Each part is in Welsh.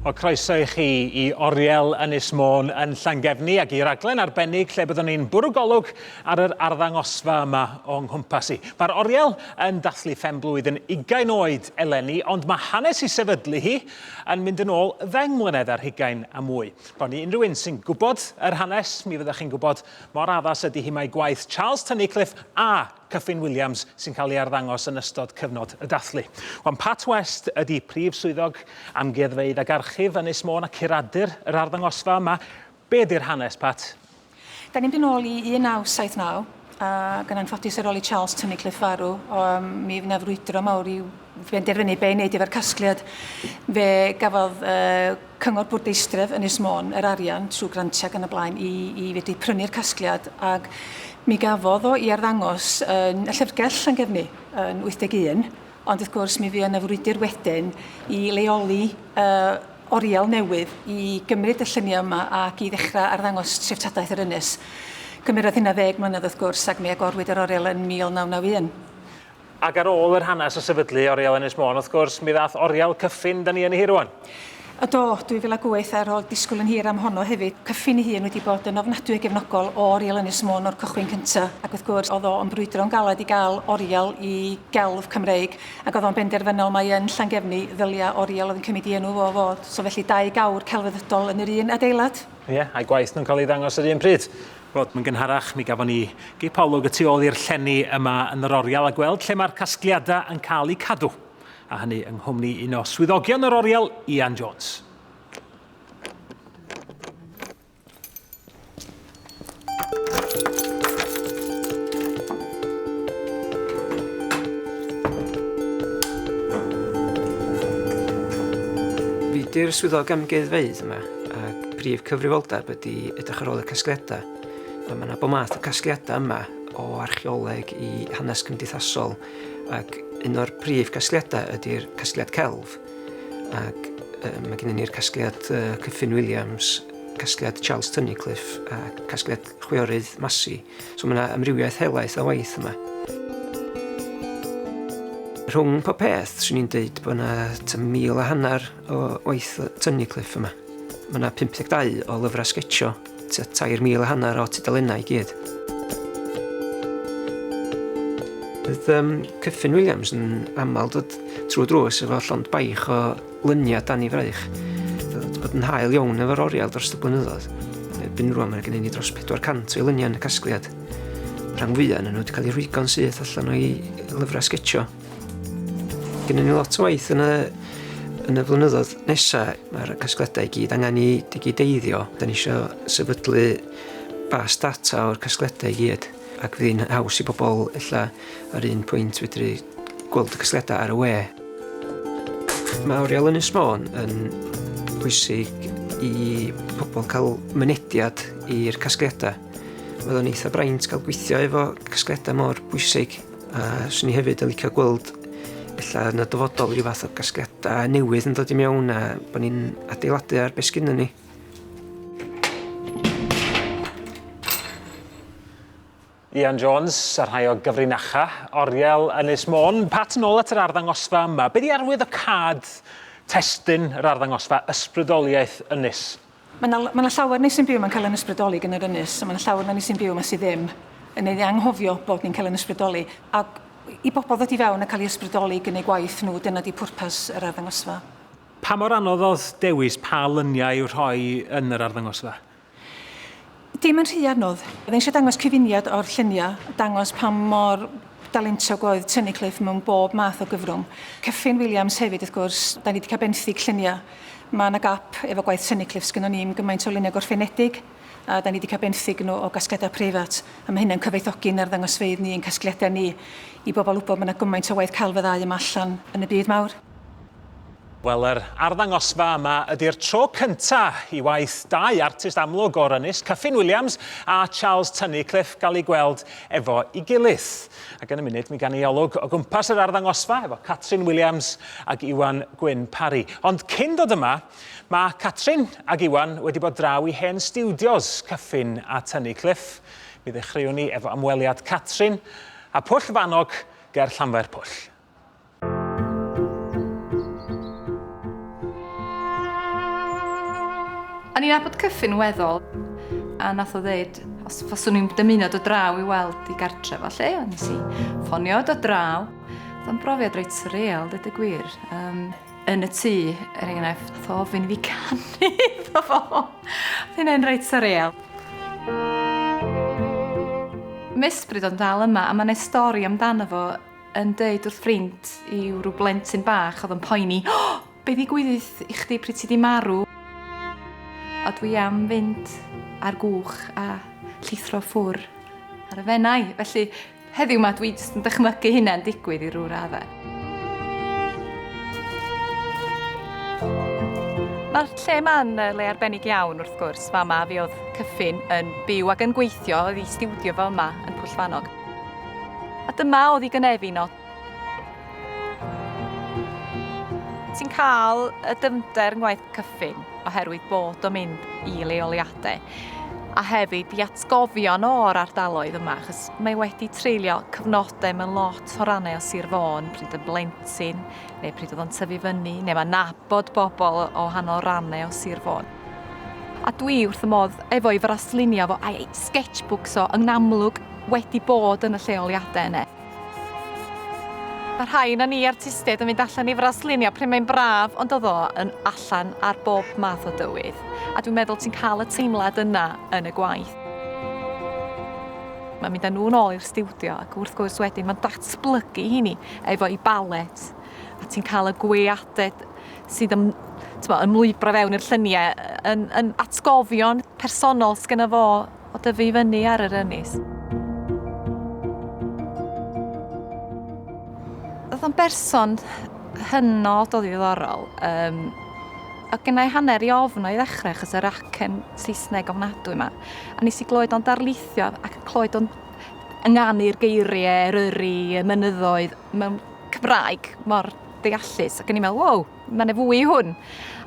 O croeso i chi i Oriel Ynys Môn yn Llangefni ac i raglen arbennig lle byddwn ni'n bwrw golwg ar yr arddangosfa yma o'n nghwmpas i. Mae'r Oriel yn dathlu phenblwydd yn ugain oed eleni, ond mae hanes i sefydlu hi yn mynd yn ôl ddeng mlynedd ar hugain a mwy. Bron i unrhyw un sy'n gwybod yr hanes, mi fyddwch chi'n gwybod mor addas ydy hi mae gwaith Charles Tunnicliffe a Kyffin Williams sy'n cael ei arddangos yn ystod cyfnod y dathlu. Wan Pat West ydy Prif Swyddog Amgueddfeydd ac Archif Ynys Môn a curadur yr arddangosfa yma. Be ydy'r hanes, Pat? Da ni'n mynd yn ôl i 1979 ac yn anffodus ar ôl i Charles Tunnicliffe farw um, mi fydd yna frwydro mawr i'w benderfynu be i wneud efo'r casgliad. Fe gafodd uh, Cyngor Bwrdeistref Ynys Môn yr arian trwy grantiau ac yn y blaen i, i fedru prynu'r casgliad ac mi gafodd o i arddangos yn y llyfrgell Llangefni yn 81 ond wrth gwrs mi fu yna frwydr wedyn i leoli uh, oriel newydd i gymryd y lluniau yma ac i ddechrau arddangos treftadaeth yr ynys. Cymerodd hynna ddeg mlynedd wrth gwrs ac mi agorwyd yr oriel yn 1991. Ac ar ôl yr hanes o sefydlu Oriel Ynys Môn, wrth gwrs, mi ddath Oriel Cyffin da ni yn ei hi rwan. O do, 2008 a ro'dd disgwyl yn hir am honno hefyd. Cyffin ei hun wedi bod yn ofnadwy o gefnogol o Oriel Ynys Môn o'r cychwyn cynta, ac wrth gwrs o'dd o yn brwydro'n galed i ga'l Oriel i gelf Cymreig, ac o'dd o'n benderfynol mai yn Llangefni ddylia Oriel oedd yn cymyd i enw fo fod, so felly dau gawr celfyddydol yn yr un adeilad. Ie, a'u gwaith nhw'n cael ei ddangos yr un pryd. Wel, yn gynharach, mi gafon ni gip olwg y tu ôl i'r llenni yma yn yr oriel a gweld lle mae'r casgliadau yn cael eu cadw, a hynny yng nghwmni un o swyddogion yr oriel, Ian Jones. Fi di'r swyddog amgueddfeydd yma. A prif cyfrifoldeb ydy edrych ar ôl y casgliadau. Mae yna bod math o casgliadau yma o archeoleg i hanes cymdeithasol ac un o'r prif casgliadau ydy'r casgliad celf ac uh, mae gennym ni'r casgliad uh, Cyffin Williams, casgliad Charles Tunnicliffe a casgliad chwiorydd Masi. So mae yna amrywiaeth helaeth o waith yma. Rhwng pob peth, swn i'n dweud bod yna mil a hanner O waith Tony Cliff yma. Mae yna 52 o lyfrau sgetsio, tua 3,000 a hanner o tudalennau i gyd. Bydd um, Cyffin Williams yn aml dod trwy drws efo llond baich o lyniau dan i fraich. Dod bod yn hael iawn efo'r oriel dros y blynyddoedd. Erbyn rwan mae gen i dros 400 o lyniau yn y casgliad. Rhan fwyaf yn nhw wedi cael ei rhwygo'n syth allan o'i lyfrau sgetsio. Gynnu ni lot o waith yn y, yn y flynyddoedd nesaf. Mae'r casgledau i gyd angen i digideiddio. Da ni eisiau sefydlu bas data o'r casgledau i gyd. Ac fydd hi'n haws i bobl illa ar un pwynt fedru gweld y casgledau ar y we. Mae Oriel yn Ysmôn yn bwysig i pobl cael mynediad i'r casgliadau. Oedd o'n eitha braint cael gweithio efo casgliadau mor bwysig. A 'swn i hefyd yn licio gweld ella yn y dyfodol ryw fath o gasgliada newydd yn dod i mewn a bo' ni'n adeiladu ar be' sgynnon ni. Ian Jones, a rhai o gyfrinacha, oriel Ynys Môn. Pat, nôl at yr arddangosfa yma. Be di arwydd o cad testyn yr arddangosfa Ysbrydoliaeth Ynys Mae 'na mae 'na llawer ni sy'n byw mae'n cael ein ysbrydoli gan yr ynys, a mae 'na llawer na ni sy'n byw 'ma sydd ddim yn ei anghofio bod ni'n cael ein ysbrydoli. A i bobl ddod i fewn a cael ei ysbrydoli gan eu gwaith nhw, dyna di pwrpas yr arddangosfa. Pa mor anodd oedd dewis pa luniau i'w rhoi yn yr arddangosfa? Dim yn rhy anodd. Oedd eisiau dangos cyfuniad o'r lluniau, dangos pa mor dalentog oedd Tunnicliffe mewn bob math o gyfrwng. Kyffin Williams hefyd wrth gwrs, da ni wedi cael benthyg lluniau. Mae yna gap efo gwaith Tunnicliffe, sgynnon ni ddim gymaint o luniau gorffenedig a da ni wedi cael benthyg nhw o gasgliadau preifat a mae hynna'n cyfoethogi yn arddangosfeydd ni, ein casgliadau ni, i bobl wybod bod yna gymaint o waith celf y ddau yma allan yn y byd mawr. Wel, yr arddangosfa yma ydy'r tro cynta i waith dau artist amlwg o'r ynys, Kyffin Williams a Charles Tunnicliffe, gael eu gweld efo i gilydd. Ac yn y munud mi gan i olwg o gwmpas yr arddangosfa efo Catrin Williams ag Iwan Gwyn Parry. Ond cyn dod yma, mae Catrin ag Iwan wedi bod draw i hen stiwdios Kyffin a Tunnicliffe. Mi ddechreuwn ni efo ymweliad Catrin a Pwll Fanog ger Llanfairpwll. A ni'n abod cyffin weddol, a nath o ddeud, os faswn i'n dymuno dod draw i weld i gartre fo lle, ond nes i ffonio dod draw. Oedd o'n brofiad reit surreal, dweud y gwir. Um, yn y tŷ, er enghraifft, nath o ofyn fi canu iddo fo. Oedd hynny'n reit surreal. Misbryd o'n dal yma, a mae'n ei stori amdano fo yn deud wrth ffrind i'w rhyw blentyn bach oedd yn poeni, O! Be ddigwydd i chdi pryd ti di marw? A dwi am fynd ar gwch a llithro ffwr ar y fenau. Felly, heddiw ma dwi jyst yn dychmygu hynna'n digwydd i rhyw raddau. Mae'r lle ma'n le arbennig iawn wrth gwrs. Fama fi oedd Cyffin yn byw ac yn gweithio, oedd i stiwdio fo yma yn Pwllfanog. A dyma oedd i gynefin no. Ti'n cael y dyfnder yn gwaith cyffin oherwydd bod o'n mynd i leoliadau a hefyd i atgofion o'r ardaloedd yma, achos mae wedi treulio cyfnodau mewn lot o rannau o Sir Fôn, pryd yn blentyn, neu pryd oedd o'n tyfu fyny, neu mae'n nabod bobl o hanol rannau o Sir Fôn. A dwi wrth y modd efo i fraslinio fo a'i sketchbooks o yn amlwg wedi bod yn y lleoliadau yna. Mae rhai na ni artistiaid yn mynd allan i fraslinio pryd mae'n braf, ond oedd o yn allan ar bob math o dywydd. A dwi'n meddwl ti'n cael y teimlad yna yn y gwaith. Mae'n mynd â nhw'n ôl i'r stiwdio ac wrth gwrs wedyn mae'n datblygu hini. efo'i balet a ti'n cael y gweaded sydd yn twa, yn lwybra fewn i'r lluniau yn, yn atgofion personol sgynna fo o dyfu i fyny ar yr ynys. Oedd o'n berson hynod o ddiddorol. Um, a gynnau hanner i ofn o'i ddechrau achos yr acen Saesneg ofnadwy yma. A nes i glywed o'n darlithio ac yn clywed o'n ynganu'r geiriau Eryri, y mynyddoedd, mewn Cymraeg mor deallus. Ac o'n i'n meddwl, wow, mae yna fwy i hwn.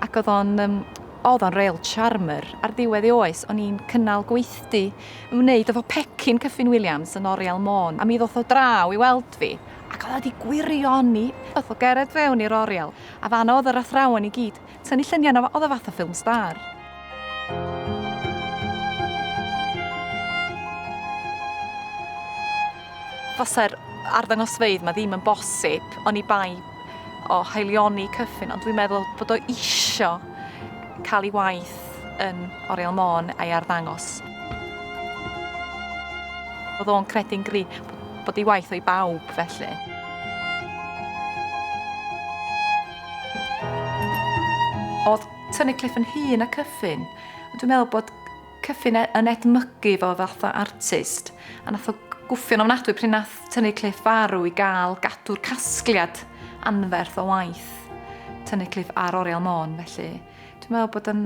Ac oedd o'n um, oedd o'n real charmer. Ar ddiwedd ei oes, o'n i'n cynnal gweithdy yn wneud efo pecyn Cyffin Williams yn Oriel Môn. A mi ddoth o draw i weld fi, ac oedd wedi gwirioni, ddoth o gered fewn i'r Oriel, a fan oedd yr athrawon i gyd, Tynnu lluniau yno fo oedd o fath o ffilm star. Fasa'r arddangosfeydd yma ddim yn bosib oni bai o haelioni cyffin, ond dwi'n meddwl bod o isio cael ei waith yn Oriel Môn a'i arddangos. Oedd o'n credu'n gri bod ei waith o'i bawb felly. Oedd Tynnu Cliff yn hŷn na Cyffin, ond dwi'n meddwl bod Cyffin e- yn edmygu fo fath o artist, a nath o gwffio'n ofnadwy pryd nath Tynnu Cliff farw i gael gadw'r casgliad anferth o waith Tynnu Cliff ar Oriel Môn, felly dwi'n meddwl bod yn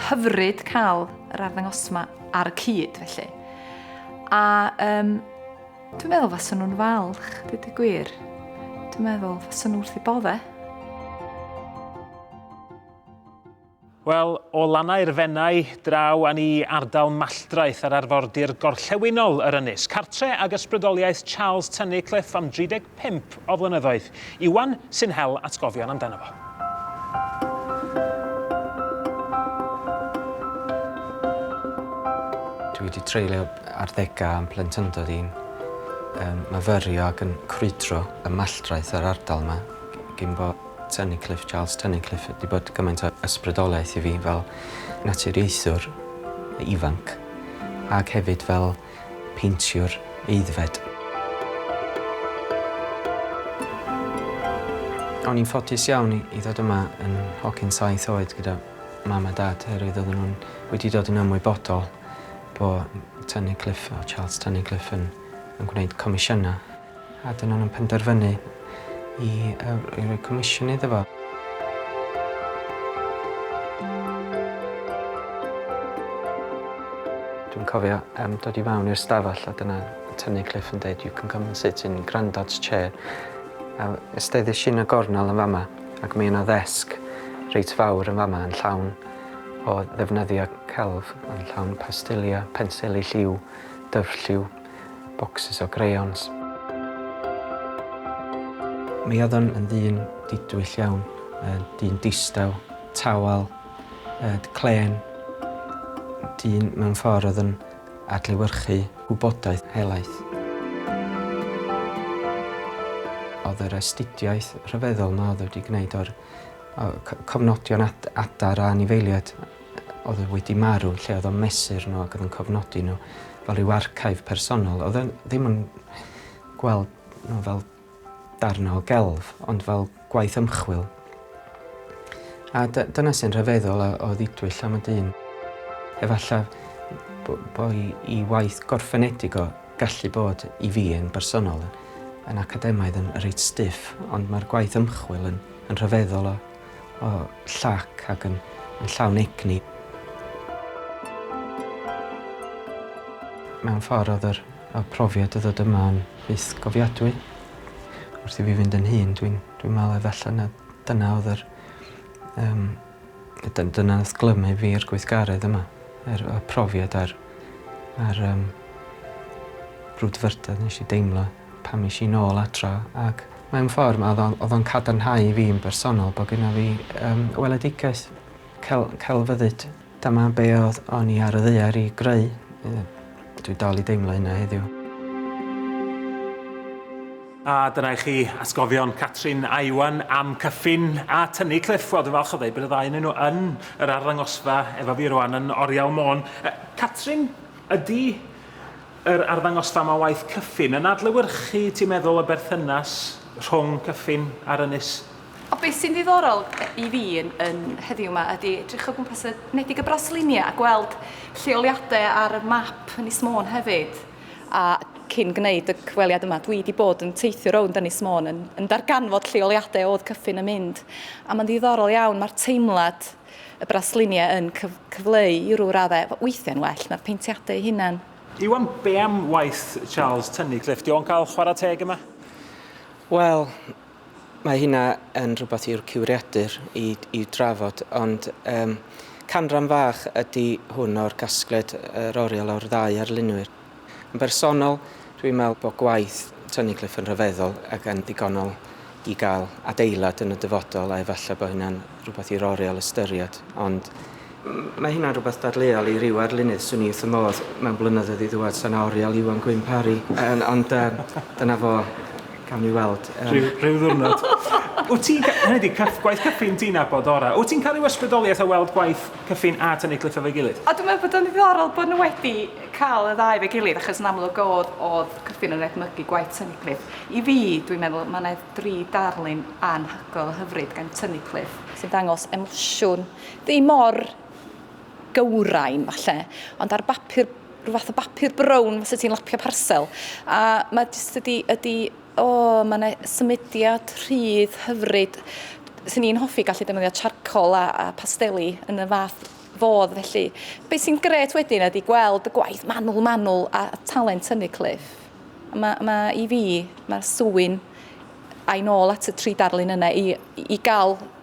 hyfryd cael yr arddangosfa ar y cyd, felly. A um, Dwi'n meddwl fas nhw'n falch, dweud y gwir. Dwi'n meddwl fas nhw'n wrth i bodde. Wel, o lannau'r fennau draw a ni ardal Malldraeth ar arfordir gorllewinol yr Ynys, cartre ag ysbrydoliaeth Charles Tynicliffe am 35 pump o flynyddoedd. Iwan sy'n hel atgofion amdano fo. Dwi wedi treulio arddegau yn plentyndod i'n um, myfyrio ac yn crwydro y malldraeth yr ardal yma gyn bo Tunnicliffe, Charles Tunnicliffe, wedi bod gymaint o ysbrydoliaeth i fi fel naturiaethwr ifanc ac hefyd fel peintio'r aeddfed. O'n i'n ffodus iawn i ddod yma yn hogyn saith oed gyda mam a dad oherwydd oedden nhw'n wedi dod yn ymwybodol bod Tynnu Cliff, Charles Tynnu Cliff yn gwneud comisiynau. A dyna nhw'n penderfynu i roi comisiwn iddo fo. Dwi'n cofio um, dod i fawn i'r stafell a dyna tynnu Cliff yn dweud, you can come and sit in grandad's chair. A ysteddish i'n y gornel yn fama ac mae yna ddesg reit fawr yn fama yn llawn o ddefnyddio celf, yn llawn pastilia, pensili lliw, dyfrlliw, bocsys o greiyons. Mi oedd o'n yn ddyn didwyll iawn, dyn distaw, tawel, clên, dyn mewn ffordd oedd yn adlewyrchu gwybodaeth helaeth. Oedd yr astudiaeth rhyfeddol 'ma oedd o wedi gwneud o'r cofnodion adar a anifeiliaid oedd e wedi marw, lle oedd o'n mesur nhw ac oedd yn cofnodi nhw fel rhyw archive personol. Oedd e ddim yn gweld nhw fel darnau o gelf, ond fel gwaith ymchwil. A dyna sy'n rhyfeddol o, o ddidwyll am y dyn. Efallai bod i waith gorffenedig o gallu bod i fi yn bersonol yn academaidd yn reit stiff, ond mae'r gwaith ymchwil yn, yn rhyfeddol o O llac ac yn llawn egni. Mewn ffordd oedd yr y profiad o ddod yma yn fyth gofiadwy. Wrth i fi fynd yn hŷn dwi'n dwi'n meddwl efalla na dyna oedd yr yym y dyn- dyna nath glymu fi i'r gweithgaredd yma. Yr y profiad a'r a'r yym brwdfrydedd nesh i deimlo. Pan es i nôl adra ac mewn ffordd ma' o'dd o'dd o'n cadarnhau i fi yn bersonol bo' gynna fi yym weledigaeth cel- celfyddyd. Dyma be' o'dd o'n i ar y ddaear i greu. Ie. Dwi dal i deimlo hynna heddiw. A dyna i chi atgofion Catrin a Iwan am Cyffin a Tynnu Cliff. Wel dwi'n falch o ddeud bod y ddau ynnyn nhw yn yr arddangosfa efo fi rwan yn Oriel Môn. Yy Catrin, ydi Yr arddangosfa mae waith Cyffin yn adlewyrchu, ti'n meddwl, y berthynas rhwng Cyffin a'r ynys? O, be sy'n ddiddorol i fi yn, yn heddiw 'ma ydi edrych o gwmpas y Nedig a Brasilinia a gweld lleoliadau ar y map Ynys Môn hefyd. A cyn gwneud y cyfweliad yma, dwi 'di bod yn teithio rownd Ynys Môn yn, yn darganfod lleoliadau o'dd Cyffin yn mynd. A ma'n ddiddorol iawn, ma'r teimlad y brasluniau yn cyf cyfleu i rw raddau, weithiau'n well na'r peintiadau eu hunain. Iwan, be am waith Charles Tunnicliffe? Di o'n cael chwarae teg yma? Wel, mae hynna yn rhywbeth i'r cywiriadur i, i drafod, ond um, canran fach ydy hwn o'r casgliad yr oriel o'r ddau arlunwyr. Yn bersonol, dwi'n meddwl bod gwaith Tony Cliff yn rhyfeddol ac yn ddigonol i gael adeilad yn y dyfodol a efallai bod hynna'n rhywbeth i'r oriel ystyried, ond mae hynna'n rhywbeth dadleuol i ryw arlunydd, swn i wrth fy modd mewn blynyddoedd i ddŵad sa 'na oriel Iwan Gwyn Parry, yym ond yym dyna fo, cawn ni weld. Yym. Rhyw, rhyw ddiwrnod. Wyt ti'n ca- hynny ydi, cyff- gwaith cyffin ti'n nabod orau. Wyt ti'n cael rhyw ysbrydoliaeth o weld gwaith Cyffin a tynnu cliff efo'i gilydd. A dwi'n meddwl bod o'n ddiddorol bod nhw wedi cael y ddau efo'i gilydd achos yn amlwg oedd, oedd Cyffin yn edmygu gwaith tynnu cliff. I fi, dwi'n meddwl, mae yna dri darlun anhygoel a hyfryd gan tynnu cliff. Sy'n dangos emosiwn, ddim mor gywrain falle, ond ar bapur, rhyw fath o bapur brown fysa ti'n lapio parsel. A mae jyst ydi, ydi O, mae yna symudiad rhydd hyfryd. Swn i'n hoffi gallu defnyddio charcoal a, a pasteli yn y fath fodd felly. Be sy'n gret wedyn ydy gweld y gwaith manwl manwl a talent hynny Cliff. Mae, mae i fi, mae'r swyn a'i nôl at y tri darlun yna i, i gael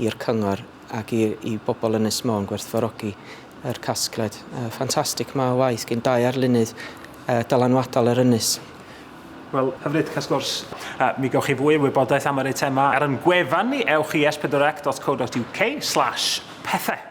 i'r cyngor ac i i bobl Ynys Môn gwerthfawrogi yr casgled yy ffantastig 'ma o waith gin dau arlunydd yy dylanwadol yr ynys. Wel, hyfryd, cas gwrs. A mi gewch chi fwy o wybodaeth am yr eitemau ar yn gwefan ni, ewch i espedorac.co.uk slash pethau.